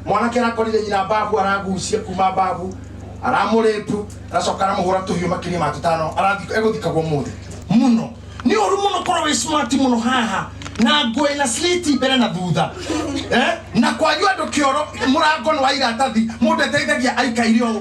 mwanake arakorire nyina mbabu aragucia kuma mbabu aramũrĩpu aracoka aramũhũra tũhiũ makĩria ma tũtano arathi- egũthikagwo mũthĩ mũno nĩ ũru mũno korwo wĩ smart mũno haha na ngũĩ na sliti mbere na thutha eh? na kwanyu andũ kĩoro mũrango nĩ wa iratathi mũndũ eteithagia aikaire ũũ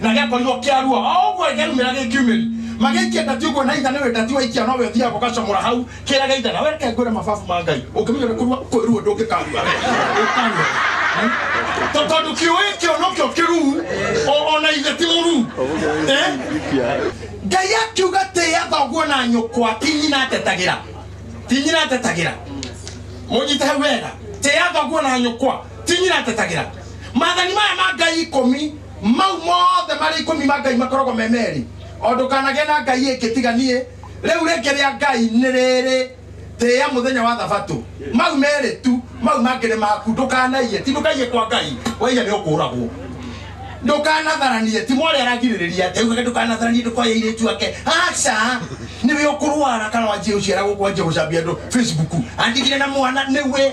na gĩakorirwo kĩarua o ũguo gĩaumĩra gĩkiumĩri magĩikia ndati ũguo na itha nĩwe ndati waikia nowe ũthiaga ũgacamũra hau kĩrĩa gĩitha na wereke ngwĩre mababu ma ngai ũngĩmenya ũrĩa kũrua kwĩruo ndũngĩkarua ũkarua To- tondũ kĩũĩ kĩo nokĩo kĩruu o- ona ithe ti mũruu Eh? ngai akiuga tĩa thoguo na nyũkwa ti nyina atetagĩra ti nyina atetagĩra mũnyite hau wega tĩa thoguo na nyũkwa ti nyina atetagĩra mathani maya ma ngai ikũmi mau mothe marĩ ikũmi ma ngai makoragwo me merĩ o ndũkanagĩa na ngai ĩngĩ tiga niĩ rĩu rĩngĩ rĩa ngai nĩ rĩrĩ tĩa mũthenya wa thabatũ mau merĩ tu mau mangĩ nĩ maku ndũkanaiye ti ndũkaiye kwa ngai waiya nĩ ũkũragwo ndũkanatharanie ti mwarĩ aragirĩrĩria ati ugaga ndũkanatharanie ndũkoya irĩtu ake aca nĩwe ũkũrwara kana wanjie ũciara gũkũ wanjie gũcambia andũ facebook andigire na mwana nĩwe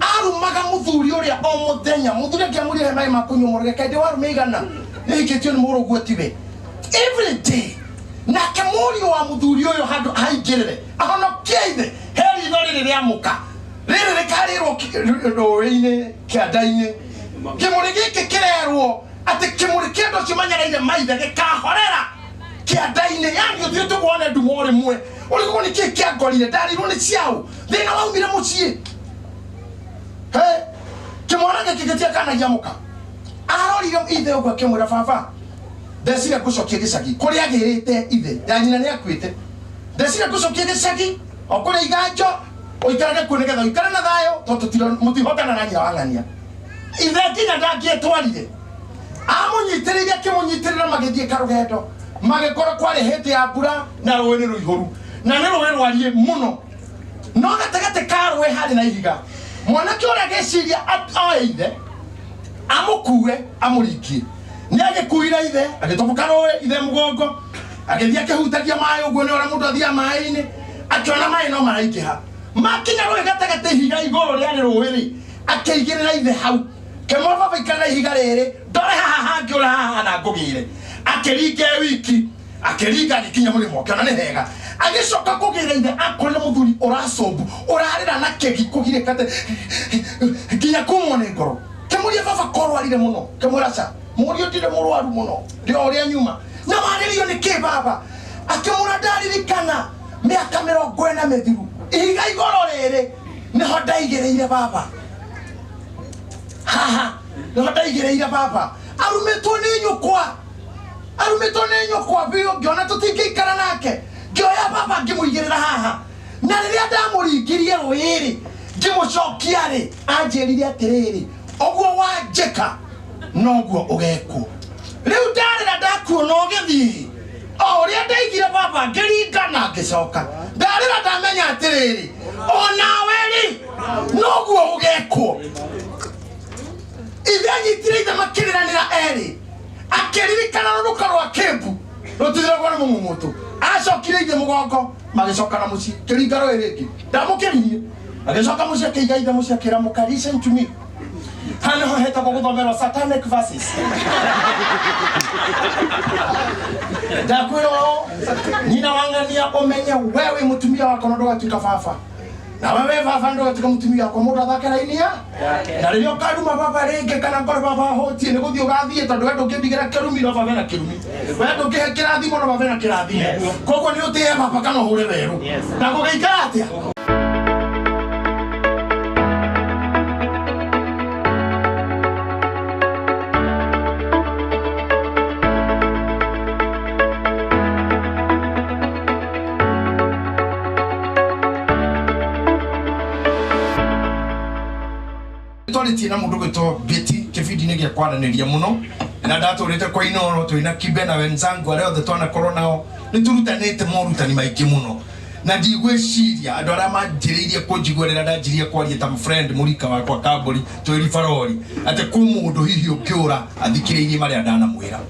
arumaga muthuri uria o muthenya muthuri akiamurire mai makunyumurire kaidi warume igana niikitio ni muru guo tiwe every day nake murio wa muthuri uyu handu haingirire ahonokie ithe heri itho riri riamuka riri rikarirwo rũĩ-inĩ kĩanda-inĩ kĩmũrĩ gĩkĩ kĩrerwo atĩ kĩmũrĩ kĩndũ kimenyereire maithe gĩkahorera kĩanda-inĩ yani ũthiĩ tũkuone nduma ũrĩ mwe ũrĩgwo nĩ kĩĩ kĩangorire ndarirwo nĩ ciaũ thina waumire mucii he kimwana giki gitiakana giamuka arorire ithe uguo akimwira baba ndecire ngucokie gicagi kuria girite ithe ya nyina ni akuite ndecire ngucokie gicagi okuria iganjo uikarage kuo nigetha uikare na thayo tondu mutihotana na nyina wang'ania ithe nginya ndangĩtwarire amunyitĩrĩire akĩmũnyitĩrĩra magĩthiĩ karũgendo magĩkora kwarĩ hĩndĩ ya mbura na rũĩ nĩ rũihũru na nĩ rũĩ rwariĩ mũno no gatagatĩ ka rũĩ harĩ na ihiga mwanake ũrĩa agĩciria at- oe ithe amũkue amũrikie nĩ agĩkuire ithe agĩtoboka rũĩ ithe mũgongo agĩthiĩ akĩhutagia maĩ ũguo nĩ ũrĩa mũndũ athiaga maĩ-inĩ akĩona maĩ no maraingĩha makinya rũĩ gatagatĩ ihiga igũrũ rĩarĩ rũĩ-rĩ akĩigĩrĩra ithe hau kĩmwababa ikarĩra ihiga rĩrĩ ndore haha hangĩ ũra haha na ngũgĩre akĩringe wiki akĩringa agĩkinya mũrĩmo ũkĩona nĩ hega agĩcoka kũgĩra ithe akorire mũthuri ũracombu ũrarĩra na kegi kũgirĩkate nginya kumwo nĩ ngoro kĩmũria baba korwarire mũno kĩmũraca mũriũ ndirĩ mũrwaru mũno ndĩ o ũrĩa nyuma na warĩrio nĩ kĩ baba akĩmũra ndaririkana mĩaka mĩrongo ĩna mĩthiru ihiga igoro rĩrĩ nĩho ndaigĩrĩire baba haha nĩho ndaigĩrĩire baba arumĩtwo nĩ nyũkwa arumĩtwo nĩ nyũkwa biũ ngĩona tũtingĩikara nake ngĩoya baba ngĩmũigĩrĩra haha na rĩrĩa ndamũringirie rũĩ-rĩ ngĩmũcokia-rĩ anjĩrire atĩrĩrĩ ũguo wanjĩka noguo ũgekwo rĩu ndarĩra ndakuona ũgĩthiĩ o ũrĩa ndaigire baba ngĩringa na ngĩcoka ndarĩra ndamenya atĩrĩrĩ o nawe-rĩ noguo ũgekwo ithe anyitire ithe makĩrĩranĩra erĩ akĩririkana rũruka rwa kĩmbu rũtithiragwo nĩ mũmũmũtũ acokire ithe mũgongo magĩcokana mũciĩ kĩringa rũĩ rĩngĩ ndamũkĩririe agĩcoka mũciĩ akĩiga ithe mũciĩ akĩra mũka listen to me hano ho hetagwo gũthomerwo satanic verses ndakwĩra ũũ nyina wang'ania ũmenye we wĩ mũtumia wakwa na ndũgatuĩka baba na wewe baba ndo tika mutumia kwa mundu athakira inia na riria ukaruma baba ringi kana ngore baba hotie ni guthii ugathie tondu we ndungimbigera kirumi no baba na kirumi we ndungihe kirathimo no baba na kirathimo koguo ni utihe baba kana uhure weru na gugeikara atia twarĩtie na mũndũ gwĩtwo beti kĩbindi-inĩ gĩa kwaranĩria mũno na ndatũrĩte kwa inoro twĩna kibe na wenzangu arĩa othe twanakorwo nao nĩ tũrutanĩte morutani maingĩ mũno na ndigwĩciria andũ arĩa manjĩrĩirie kũnjigua rĩrĩa ndanjirie kwaria ta friend mũrika wakwa kambũri twĩri barori atĩ kwĩ mũndũ hihi ũngĩũra athikĩrĩirie marĩa ndanamwĩra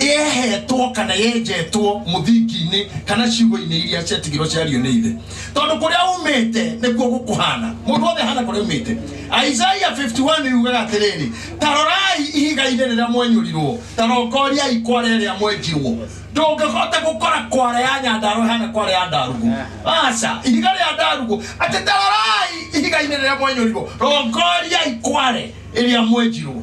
yehetwo kana yenjetwo mũthingi-inĩ kana ciugo-inĩ iria ciatigirwo ciario nĩ ithe tondũ kũrĩa umĩte nĩkuo gũkũhana mũndũ wothe hana kũrĩa umĩte isaia 51 yugaga atĩrĩrĩ ta rorai ihiga-inĩ rĩrĩa mwenyũrirwo ta rokoriai kwara ĩrĩa mwenjirwo ndũngĩhota gũkora kwara ya nyandarũ hana kwara ya ndarugũ aca ihiga rĩa ndarugũ atĩ ta rorai ihiga-inĩ rĩrĩa mwenyũrirwo rongoriai kware ĩrĩa mwenjirwo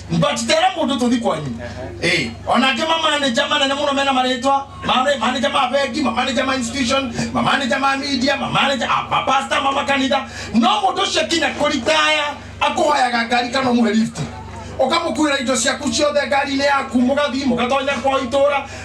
but there are mũndũ tũthi kwanyu Eh, onake mamaneja manene mũno mena marĩtwa mare- maneja ma bengi mamaneja ma institution mamaneja ma media mamaneja ah, mapasta mamakanitha no mũndũ ũcio kinya kũritaya akũhoyaga ngari kana ũmũhe lift ũkamũkuĩra indo ciaku ciothe ngari-inĩ yaku mũgathiĩ mũgatonya kwa itũra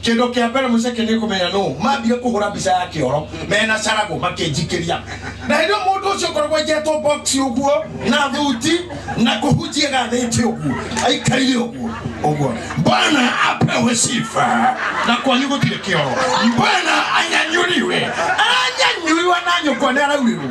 kindu kia mbere muceke ni kumenya no mambire kuhura mbica ya kioro mena caragu makinjikiria na hindi mundu ucio koragwo njetwo box uguo na thuti na kuhunjia gathiti uguo aikarire uguo uguo bwana apewe sifa na kwanyu gutire kioro bwana anyanyuriwe aranyanyuriwa na nyukwa ni araurirwo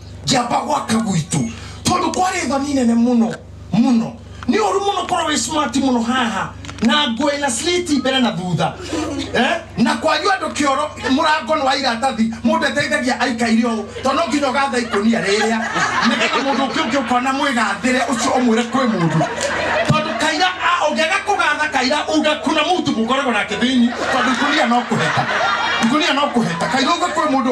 njamba gwaka gwitũ tondũ kwarĩ thoni nene mũno mũno nĩ ũru mũno korwo wĩ smart mũno haha na nguo ĩna sliti mbere na thutha eh? na kwanyu andũ kĩoro mũrango nĩ wa iratathi mũndũ eteithagia aikaire ũũ tondũ no nginya ũgatha ikũnia rĩrĩa nĩgetha mũndũ ũngĩ ũngĩ ũkona mwĩgathĩre ũcio ũmwĩre kwĩ mũndũ tondũ kaira a- ũngĩaga kũgatha kaira uga kuna mũtu mũkoragwo nake thĩinĩ tondũ ikũnia no kũheta ikũnia no kũheta kaira uga kwĩ mũndũ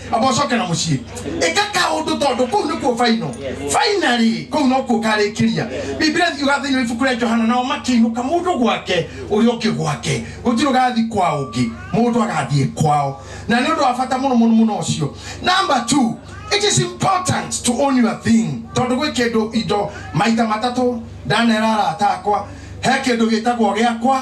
amba ũcokera mũciĩ ĩka kaũndũ tondũ kũu nĩkuo baino fainarĩ kũu nokuo karĩkĩria biblia thiuga thĩinĩ wa ibuku rĩa johana nao makĩinũka mũndũ gwake ũrĩa ũngĩ gwake gũtirĩ ũgathiĩ kwa ũngĩ mũndũ agathiĩ kwao na nĩ ũndũ wa bata mũno mũno mũno ũcio number two it is important to own your thing tondũ gwĩ kĩndũ indo maita matatũ ndanera arata akwa he kĩndũ gĩtagwo gĩakwa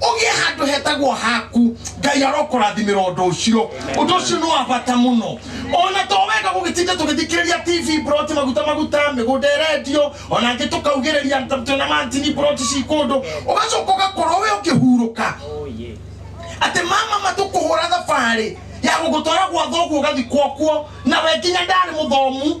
ũgĩe handũ hetagwo haku ngai arokũrathimĩra ũndũ ũcio ũndũ ũcio nĩ wa bata mũno ona to wega gũgĩtinda tũgĩthikĩrĩria tv broti maguta maguta mĩgũnda ĩrendio ona angĩ tũkaugĩrĩria twĩna mantini broti ci kũndũ ũgacoka ũgakorwo we ũkĩhurũka atĩ mama matũkũhũra thabarĩ ya gũgũtwara gwa thoguo ũgathikwo kuo na we nginya ndarĩ mũthomu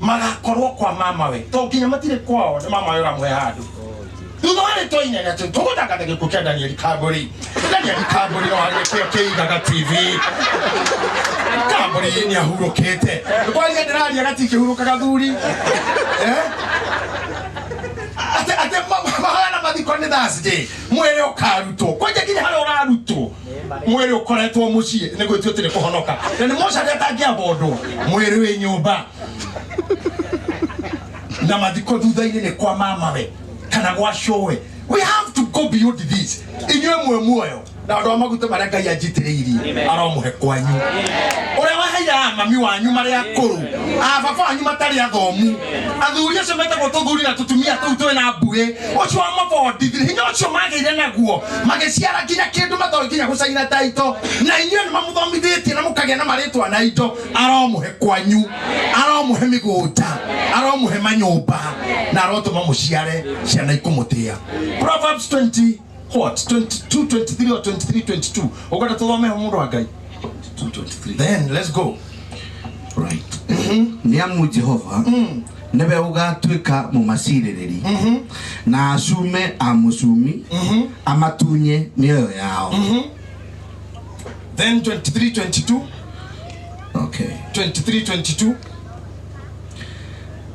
magakorwo kwa mamawe to nginya matirĩ kwao nĩ mamawe ũramũhe handũ thutha wa rĩtwa inene atĩ tũgũtangata gĩkuũ kĩa danieli kambũri danieli kambũri no harĩa kĩo kĩigaga tv kambũri nĩ ahurũkĩte kwaria ndĩraria gati kĩhurũkaga thuri Eh? atĩ atĩ ma- mahana mathiko nĩ thursday mwĩrĩ ũkarutwo kwanja nginya harĩa ũrarutwo mwĩrĩ ũkoretwo mũciĩ nĩ gwĩtio tĩrĩ kũhonoka na nĩ moca rĩa tangĩabondwo mwĩrĩ wĩ nyũmba na mathiko thutha-inĩ nĩ kwa mamawe kana gwa cũwe we have to go beyond this inyuĩ mwe muoyo na andå a maguta marä a ngai anjitĩrĩirie aromũhe kwanyu å rä a waheire a mami wanyu marä a kå rå a baba wanyu matarä athomu athuri acio metagwo tå thuri na tå tumia tå u twä na mbuä å cio wamabondithire hinya å cio magä ire naguo magĩciara nginya kĩndũ matoĩ nginya gũcaina taito na inyuĩ nĩ mamũthomithĩtie na mũkagĩa na marĩtwa na indo aromũhe kwanyu aromũhe mĩgũnda aromũhe manyũmba na arotũma mũciare ciana ikũmũtĩa Proverbs 20 what 22 23 or 23 22 ũkwenda tũthome ho mũndũ wa ngai 223 then let's go right nĩamu jehova nĩwe ũgatuĩka mũmacirĩrĩri na acume a mũcumi amatunye mĩoyo yao Then 23, 22, okay. 23, 22.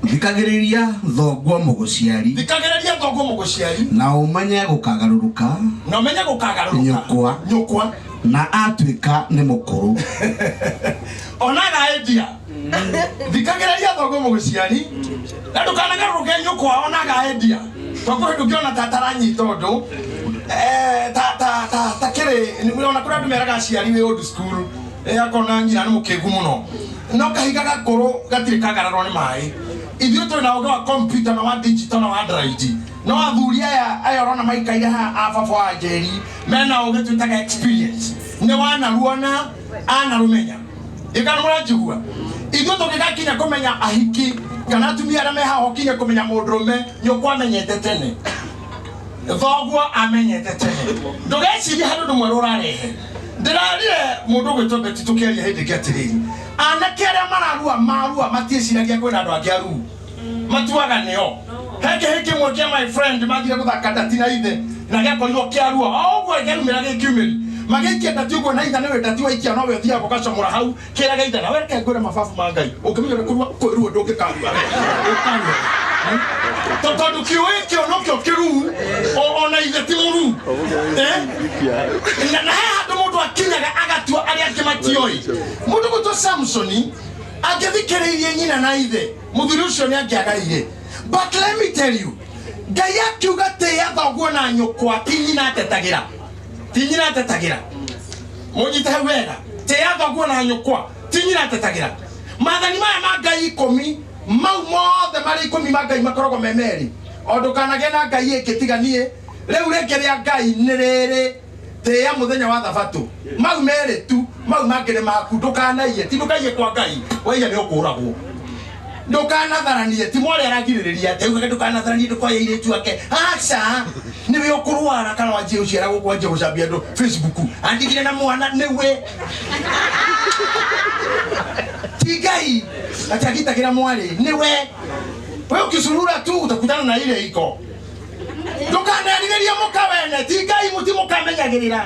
thikagĩrĩria thoguo mũgũciari Thikagĩrĩria thoguo mũgũciari na ũmenye gũkagarũrũka na ũmenye gũkagarũrũka Nyũkwa. nyũkwa na atuĩka nĩ mũkũrũ ona agaendia thikagĩrĩria thoguo mũgĩciari na ndũkanagarũrũke nyũkwa onaga endia twakuo hĩndũ ũngĩona ta taranyita ũndũ eh, ta- ta- ta- ta kĩrĩ ona kũrĩa andũ meraga aciari wĩ old school eh, akona nyina nĩ mũkĩgu mũno no kahiga gakũrũ gatirĩ kagararwo nĩ maĩ ithuĩ twĩ na ũgĩ wa komputa na wa digito na wa android no athuri aya aya ũrona maikaire haha a baba wa njeri mena ũgĩ twĩtaga experience nĩ wanaruona anarumenya ikana muranjigua ithuĩ tũngĩgakinya kũmenya ahiki kana atumia arĩa mehaho kinya kũmenya mũndũrũme nyũkwa amenyete tene thoguo amenyete tene ndũgecirie harĩ ũndũ mwerũ ũrarehe ndĩrarire mũndũ gwĩtwo beti tũkĩaria hĩndĩ ĩngĩ atĩrĩrĩ anake arĩa mararua marua matiĩciragia kwĩna andũ angĩ aruu matuagane o he kĩhĩ kĩmwe kĩa my friend mathire gũthaka ndati na ithe na gĩakorirwo kĩarua o ũguo gĩaumĩra gĩkiumĩri magĩikia ndati ũguo na ithe nĩwe ndati waikia nowe ũthiaga ũgacomora hau kĩrĩa gĩa ithe na wereke ngwĩre mababu ma ngai ũngĩmenya ũrĩa kũrua kwĩruo ndũngĩkarua ũkarua To- tondũ kĩũĩ kĩo nokĩo kĩruu o- ona ithe ti mũruu Eh? na na he handå må ndå akinyaga agatua arä angä matioä må ndå gå two samsoni angĩthikĩrĩirie nyina na ithe mũthuri ũcio nĩ angĩagaire but let me tell you ngai akiuga tĩa thoguo na nyũkwa ti nyina atetagĩra ti nyina atetagĩra mũnyite hau wega tĩa thoguo na nyũkwa ti nyina atetagĩra mathani maya ma ngai ikũmi mau mothe marĩ ikũmi ma ngai makoragwo me merĩ o ndũkanagĩa na ngai ĩngĩ tiga niĩ rĩu rĩngĩ rĩa ngai nĩ rĩrĩ tĩa mũthenya wa thabatũ mau merĩ tu mau mangĩ nĩ maku ndũkanaiye ti ndũkaiye kwa ngai waiya nĩ ũkũragwo ndũkanatharanie ti mwarĩ aragirĩrĩria atĩ ugaga ndũkanatharanie ndũkoya irĩtu ake aca nĩwe ũkũrwara kana wanjie gũciara gũkũ wanjie gũcambia andũ facebook andigire na mwana nĩwe ti ngai atagitagĩra mwarĩ nĩwe we ukizurura tu utakutana na ile iko ndũkanerirĩrie mũka wene ti ngai mũti mũkamenyagĩrĩra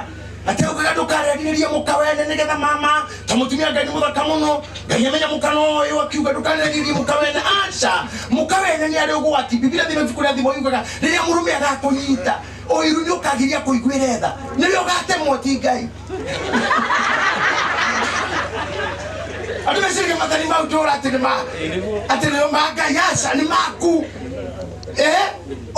ateugaga ndũkanerirĩrie mũka wene nĩgetha mama ta mũtumia ngai nĩ mũthaka mũno ngai amenya mũka no ũyũ akiuga ndũkanerirĩrie mũka wene aca mũka wene nĩ arĩ ũgwati biblia thima ibuku rĩa thimo yugaga rĩrĩa mũrũme agakũnyita ũiru nĩ ũkagiria kũiguĩre tha nĩwe ũgatemwo ti ngai andå meciria mathari mau tå ra atä nä ma atä nä ma ngai aca nä maku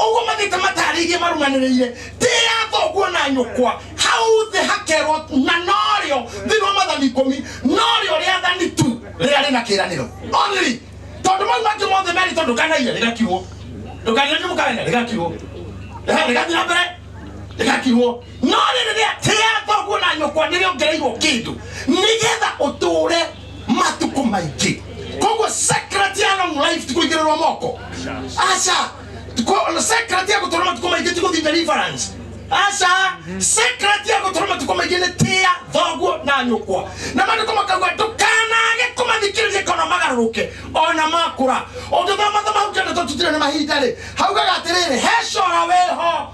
ũguo magĩte matarĩirie marumanĩrĩire ndĩ ya thoguo na nyũkwa hau thĩ hakerwo na norĩo thĩinĩ wa mathani ikũmi norĩo rĩathani tu rĩrĩa rĩna kĩranĩro only tondũ mau mangĩ mothe merĩ tondũ kanaire rĩgakirwo ndũkanire nĩ mũkaena rĩgakirwo Ehe, rĩgathiĩ na mbere rĩgakirwo no rĩrĩ rĩa tĩ ya thoguo na nyũkwa nĩrĩongereirwo kĩndũ nĩgetha ũtũũre matuko maingi koguo secret ya long life tikuigirwo moko aca Ko- secret ya gutura matuko maingi tiguthi deliverance aca secret ya gutura matuko maingi ni tia thoguo na nyukwa na mandu kumakaugua ndukanage kumathikiriria kana magaruruke ona makura undu thoma thoma hukenda tututire na mahinda ri haugaga atiriri he cora weho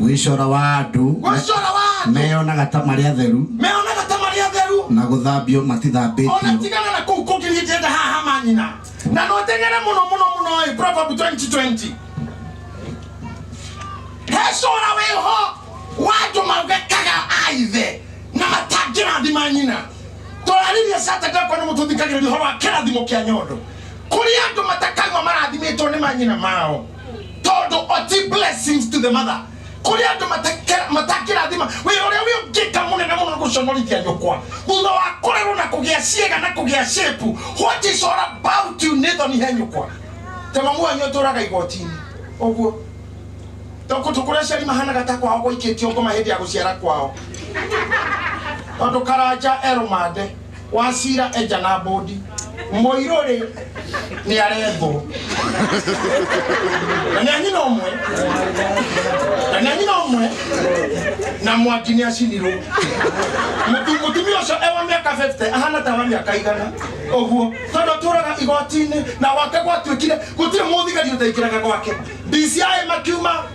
gwĩcora wa andũ gwĩcora wa andũ meyonaga ta marĩ atheru meyonaga ta marĩ atheru na gũthambio ona matithambĩtio tigana na kũu kũngĩ niĩ ndĩenda haha manyina na no teng'ere mũno mũno mũno ĩ proverb 2020 hecora wĩho wa andũ maugekaga aithe na matangĩrathima nyina tũraririe saturday kwa nĩ mũtũthikagĩrĩria ũhoro wa kĩrathimo kĩa nyondo kũrĩ andũ matakaigua marathimĩtwo nĩ manyina mao tondu oti blessings to the mother kuri andu matakira- matakirathima wira uria wi ungika munene muno ni guconorithia nyukwa thutha wa kurerwo na kugia ciega na kugia shepu what is all about you nithoni he nyukwa ta mamu wanyu aturaga igotini uguo tondu tukuria ciari mahanaga ta kwao gwaikitio ngoma hindi ya guciara kwao tondu karanja eromande Wachira eja na mbũndi. Mũirũ rĩ nĩ arethwo. Na nĩ anyina ũmwe. Na nĩ anyina ũmwe. Na mwaki nĩ acinirwo. Mũtu- Mũtumia ũcio e wa mĩaka 50 ahana ta wa mĩaka igana ũguo tondũ atũraga igoti-inĩ na gwake gwatuĩkire gũtirĩ mũthigari ũtaingĩraga gwake DCI makiuma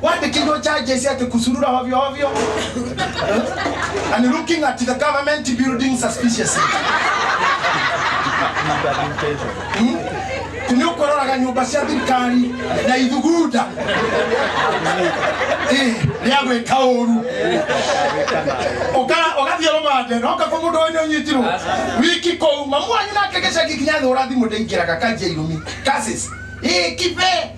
Why the kingdom charges yet to kusurura ovyo ovyo? and looking at the government building suspiciously. Hmm? Kuniokoraga nyumba cia thirikari na ithuguda Eh, rĩa gwĩka ũru Ũka- ũgathiĩ rũmande na ũkakwa mũndũ ũyũ nĩũnyitirwo wiki kũu mamu wanyu nake gĩcagi kinya thũra thimũ ndĩingĩraga kanjia irumi kasis ĩkibe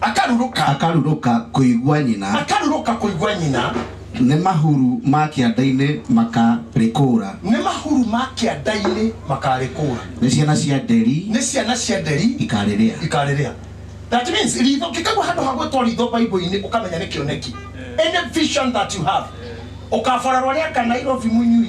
akarurũka akarurũka kũigua nyina, akarurũka kũigua nyina, nĩ mahuru ma kĩanda-inĩ makarĩkũũra. nĩ mahuru ma kĩanda-inĩ makarĩkũũra, Nĩ ciana cia nderi nĩ ciana cia nderi ikarĩrĩa. ikarĩrĩa. That means ritho kĩkaigua handũ ha gwĩtwo ritho Bible-inĩ ũkamenya nĩ kĩoneki. Any vision that you have. Ũkaborerwo nĩ aka Nairobi mũnyui.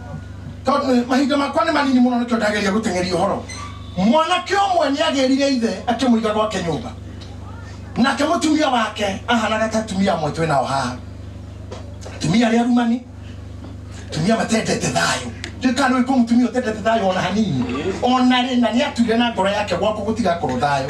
tondũ mahinda makwa nĩ manini mũno nĩkĩo ndageria gũteng'eria ũhoro mwanake ũmwe nĩ agĩrire ithe akĩmũiga gwake nyũmba nake mũtumia wake ahanaga ta atumia amwe twĩ nao haha atumia arĩa arumani atumia matendete thayũ ndikana wĩkwo mũtumia ũtendete thayũ ona hanini ona rĩ na nĩ atuire na ngoro yake gwaku gũtigakorwo thayũ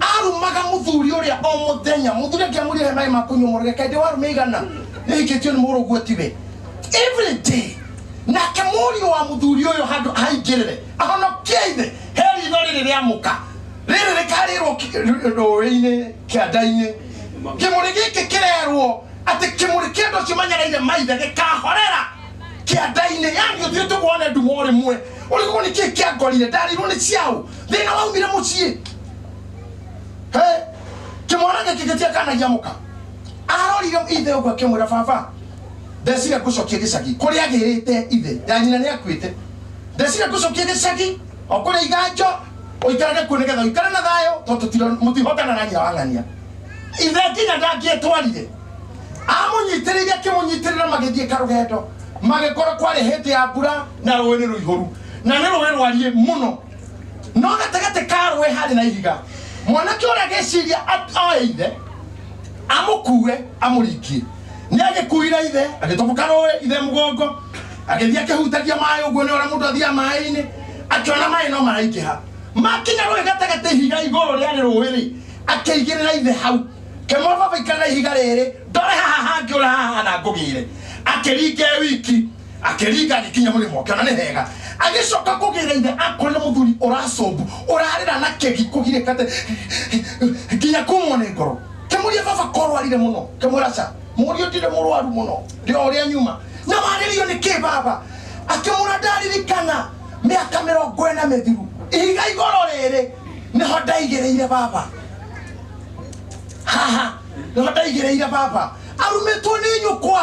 arumaga muthuri uria o muthenya muthuri akiamurire mai makunyumurire kaidi warume igana niikitio ni muru guo tiwe every day nake murio wa muthuri uyu handu haingirire ahonokie ithe heri itho riri riamuka riri rikarirwo rũĩ-inĩ kĩanda-inĩ kĩmũrĩ gĩkĩ kĩrerwo atĩ kĩmũrĩ kĩndũ kimenyereire maithe gĩkahorera kĩanda-inĩ yani ũthiĩ tũkuone nduma ũrĩ mwe ũrĩgwo nĩ kĩĩ kĩangorire ndarirwo nĩ ciaũ thina waumire mucii Hey, kimwana giki gitia kana giamuka arorire ithe uguo akimwira baba ndecire ngucokie gicagi kuria agirite ithe ya nyina ni akuite ndecire ngucokie gicagi okuria iganjo uikarage kuo nigetha uikare na thayo tondu mutihotana na nyina wang'ania ithe nginya ndangĩtwarire amunyitĩrĩire akĩmũnyitĩrĩra magĩthiĩ karũgendo magĩkorwo kwarĩ hĩndĩ ya mbura na rũĩ nĩ rũihũru na nä rå ä rwariä må no no gatagatĩ ka rũĩ harĩ na ihiga mwanake ũrĩa agĩciria at- oe ithe amũkue amũringie nĩ agĩkuire ithe agĩtoboka rũĩ ithe mũgongo agĩthiĩ akĩhutagia maĩ ũguo nĩ ũrĩa mũndũ athiaga maĩ-inĩ akĩona maĩ no maraingĩha makinya rũĩ gatagatĩ ihiga igũrũ rĩarĩ rũĩ-rĩ akĩigĩrĩra ithe hau kĩmwababa ikarĩra ihiga rĩrĩ ndore haha hangĩ ũra haha na ngũgĩre akĩringe wiki akĩringa agĩkinya mũrĩmo ũkĩona nĩ hega agĩcoka kũgĩra ithe akorire mũthuri ũracombu ũrarĩra na kegi kũgirĩkate nginya kumwo nĩ ngoro kĩmũria baba korwarire mũno kĩmũraca mũriũ ndirĩ mũrwaru mũno ndĩ o ũrĩa nyuma na warĩrio nĩ kĩ baba akĩmũra ndaririkana mĩaka mĩrongo ĩna mĩthiru ihiga igoro rĩrĩ nĩho ndaigĩrĩire baba haha nĩho ndaigĩrĩire baba arumĩtwo nĩ nyũkwa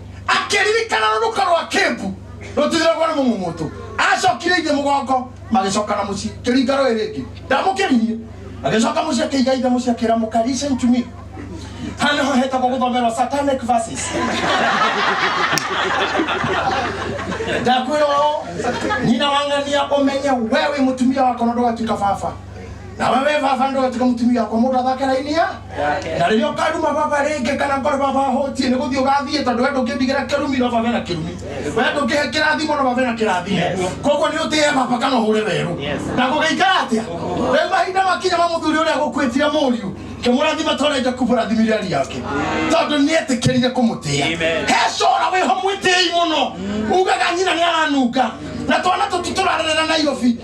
akĩririkana rũruka rwa kĩmbu rũtithiragwo nĩ mũmũmũtũ acokire ithe mũgongo magĩcokana mũciĩ kĩringa rũĩ rĩngĩ ndamũkĩririe agĩcoka mũciĩ akĩiga ithe mũciĩ akĩra mũka listen to me hano ho hetagwo gũthomerwo satanic verses ndakwĩra ũũ nyina wang'ania ũmenye wewe mũtumia wakwa na ndũgatuĩka baba na wewe baba ndo tika mutumia kwa mundu athakira inia na riria ukaruma baba ringi kana ngore baba hotie ni guthii ugathie tondu we ndungimbigera kirumi no baba na kirumi we ndungihe kirathimo no baba na kirathimo koguo ni utie baba kana uhure weru na gugeikara atia riu mahinda makinya ma muthuri uria gukwitire muriu kimurathima torenja kuburathimire ari yake tondu ni etikirire kumutia he cora wiho mwitei muno ugaga nyina ni aranunga na twana tutu turarerera nairobi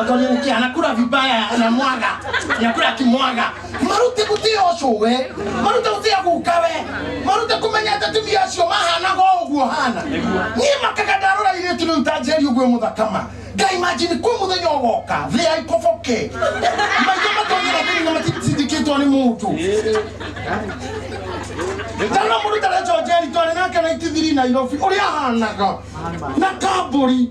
Akaniangukia anakula vibaya anamwaga. Anakula akimwaga. Marute kutia ocowe. Marute kutia kukawe. Marute kumenya ati atumia acio mahana go uguo hana. Nie makaga ndarora ile tu ntajeri uguo muthakama. Ngai imagine kwa muthenya ugoka thĩ ya ikoboke. Maitho matonyera thĩinĩ na matindikĩtwo nĩ mũndũ. Tana mũndũ tarecoa njeri twarĩ nake na itithiri Nairobi ũrĩa ahanaga na kambũri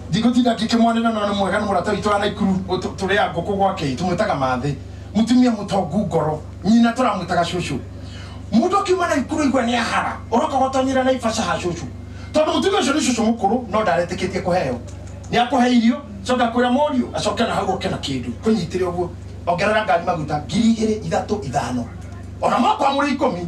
Ndingũtinda ngĩkĩmwanĩrĩra no nĩ mwega nĩ mũrata witũ wa Naikuru ũtũ- tũrĩa ngũkũ gwake tũmwĩtaga mathĩ mũtumia mũtongu ngoro nyina tũramwĩtaga cũcũ mũndũ akiuma Naikuru aigua nĩ ahara ũroka gũtonyera Naivasha ha cũcũ tondũ mũtumia ũcio nĩ cũcũ mũkũrũ no ndaretĩkĩtie kũheo nĩ akũhe irio coka akwĩra mũriũ acoke na hau oke na kĩndũ kũnyitĩre ũguo ongerera ngari maguta ngiri igĩrĩ ithatũ ithano ona mwakwamũrĩ ikũmi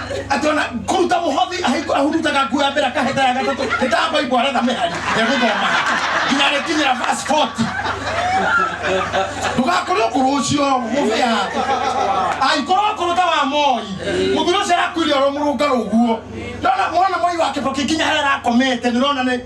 atona kuruta muhothi ahiko ahurutaga nguo ya mbere akaheta ya gatatũ hĩtamba ibo aretha mĩhari egũthoma nginya arĩkinyĩra verse 40 ndũgakorwo kũrũ ũcio mũbĩa angĩkorwo kũrũ ta wa moi mũthuri ũcio arakuire oro mũrũngarũ ũguo ndona mwana moi wa kĩboki nginya harĩa arakomete nĩrona nĩ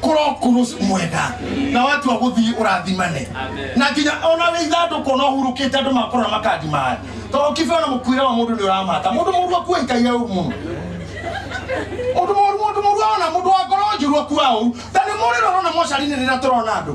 kũrokurus mwega na watu wa gũthiĩ ũrathimane na nginya ona wĩ ithandũkũ no hurũkĩte andũ makũrora makandimaĩ tondũ kibe ona mũkuĩre wa mũndũ nĩ ũramata mũndũ mũru akua ikaire ũru mũno mũndũ mũru mũndũ mũru ona mũndũ wa ngoro njũru akua ũru ta nĩ mũrĩro ũrona mocarinĩ rĩrĩa tũrona andũ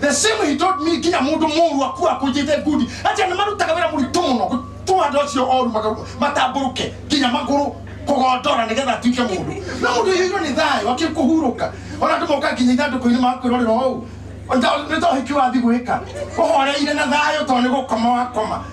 the same he told me nginya mundu muru aku akunjite ngundi ati ni marutaga wira muritu muno gutuma andu acio oru magaru matamburuke nginya maguru kugondora nigetha atuike mundu na mundu yiro ni thayo akikuhuruka ona andu moka nginya ithanduku-ini makwirorera ou nitohiki wathi gwika uhoreire na thayo to ni gukoma wakoma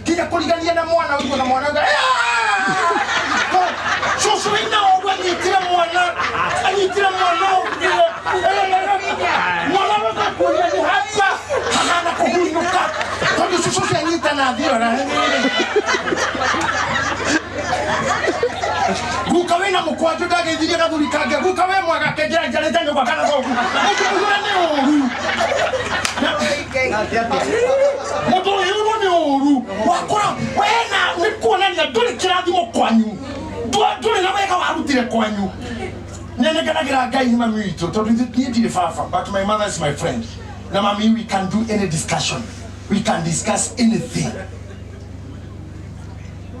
nginya kũrigania na mwana ũigua na mwana ũga cucu wĩna ũguo anyitire mwana anyitire mwana ũguo mwana wakakuria nĩ haria hahana kũhunyũka tondũ cucu ũcio anyita na thiora guka wĩna mũkwanjũ ndagĩthirie gathuri kange guka wĩ mwega kenjera njarĩte nyũmba kana thogu ũkĩmũhũra nĩ ũru mũndũ ũyũ ũrwo nĩ ũru wakora wena nĩ kuonania ndũrĩ kĩrathimo kwanyu Ndũ- ndũrĩ na wega warutire kwanyu nenenganagĩra ngai nĩ mami witũ tondũ ithu- niĩ ndirĩ baba but my mother is my friend na mami we can do any discussion we can discuss anything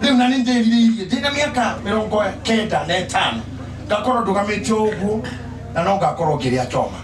rä u na nä ndärirä ndä na mä aka mä rongo kenda na ätano ngakorwo ndå gamä te å guo na no ngakorwo ngä rä a coma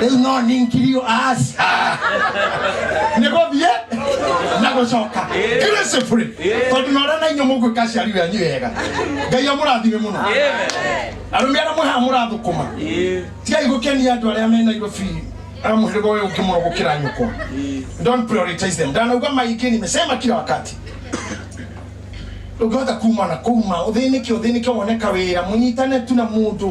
rĩu no ninkirio aca nĩ gũthiĩ na gũcoka irĩcibũrĩ tondũ na ũrĩa na inyuĩ mũgwĩka aciari wenyu wega ngai amũrathime mũno arũme arĩa mũhaha mũrathũkũma tigai gũkenia andũ arĩa me nairobi arĩa mũhĩrĩga ũyũ ũngĩ mũno gũkĩra nyũkwa don't prioritize them ndanauga maingĩ nimesema kila wakati ndũngĩhota kuma na kuma ũthĩnĩke ũthĩnĩke woneka wĩra mũnyitane tu na mũndũ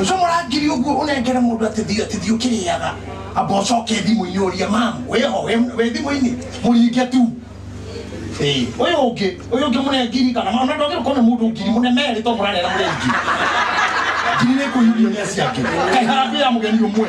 ucio murangiri uguo unengere mundu atithio atithio kiriaga amba ucoke thimu-ini urie mam wiho we thimu-ini muringe tu Eh, uyu ungi uyu ungi murengiri kana mam na ndwagire kuona mundu ngiri munemeri to murarera murengi ngiri ni kuyurio ni aciake kai harambia ya mugeni umwe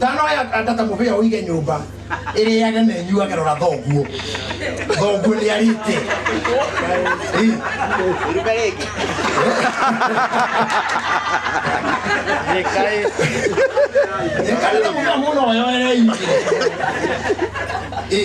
Tano ya kanda ta mũbĩa ũige nyũmba ĩrĩage na ĩnyuage rora thoguo thoguo nĩ arĩte Ĩ, Ruka rĩngĩ. ĩkarĩte mũbĩa mũno oyoereire Ĩ,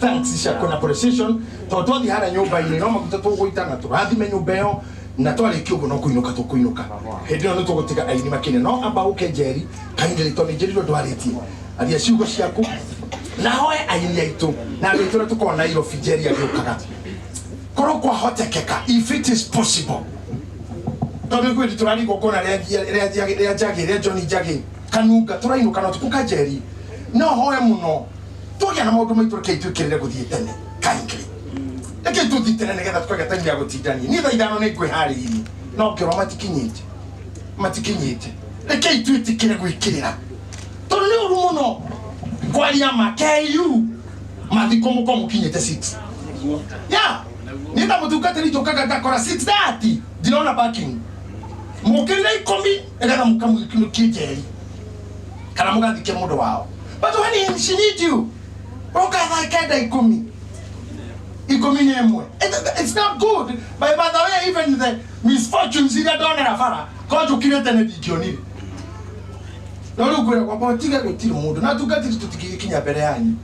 thanks cia kwĩna appreciation tondũ twathiĩ harĩa nyũmba-inĩ no maguta tũgũitana tũrathime nyũmba ĩyo na twarĩkia ũguo no kũinũka tũkũinũka hĩndĩ ĩyo nĩ tũgũtiga aini makĩne no amba ũke njeri kaingĩrĩ tondũ nĩnjĩrirwo ndwarĩtie aria ciugo ciaku na hoe aini aitũ na andũ aitũ ũrĩa tũkoragwo nairobi njeri agĩũkaga korwo kwahotekeka if it is possible tondå ithuä tå rarigwo kona rä a njagä rä a joni njagä kanunga tå rainå kana tukå kanjeri no hoe må no tũgĩa na maũndũ maitũ reke itwĩkĩrĩre gũthiĩ tene kaingĩ reke tũthiĩ tene nĩgetha twagĩa time ya gũtindania niĩ thaa ithano nĩ ngwĩharĩirie no ngĩrwo matikinyĩte matikinyĩte reke itwĩtĩkĩre gwĩkĩrĩra tondũ nĩ ũru mũno kwaria ma KU mathiko mũkorwo mũkinyĩte 6 ya nĩ ta mũtungatĩri njũkaga ngakora 6:30 ndirona parking mũkĩrire ikũmi endaga mukamwikinukie njeri kana mugathike mundu wao but when she need you roka thaa kenda ikumi ikumi na imwe It- it's not good by by the way even the misfortunes iria ndonera bara ko njukire tene ndingionire no riu ngwira kwamba tiga gutiri mundu na tungatiri tutigikinya mbere yanyu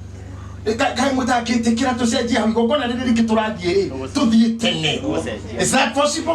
Ka- kaĩ mũtangĩtĩkĩra tũcenjie hau igongona rĩrĩ rĩngĩ tũrathiĩ rĩ tũthiĩ tene Is that possible?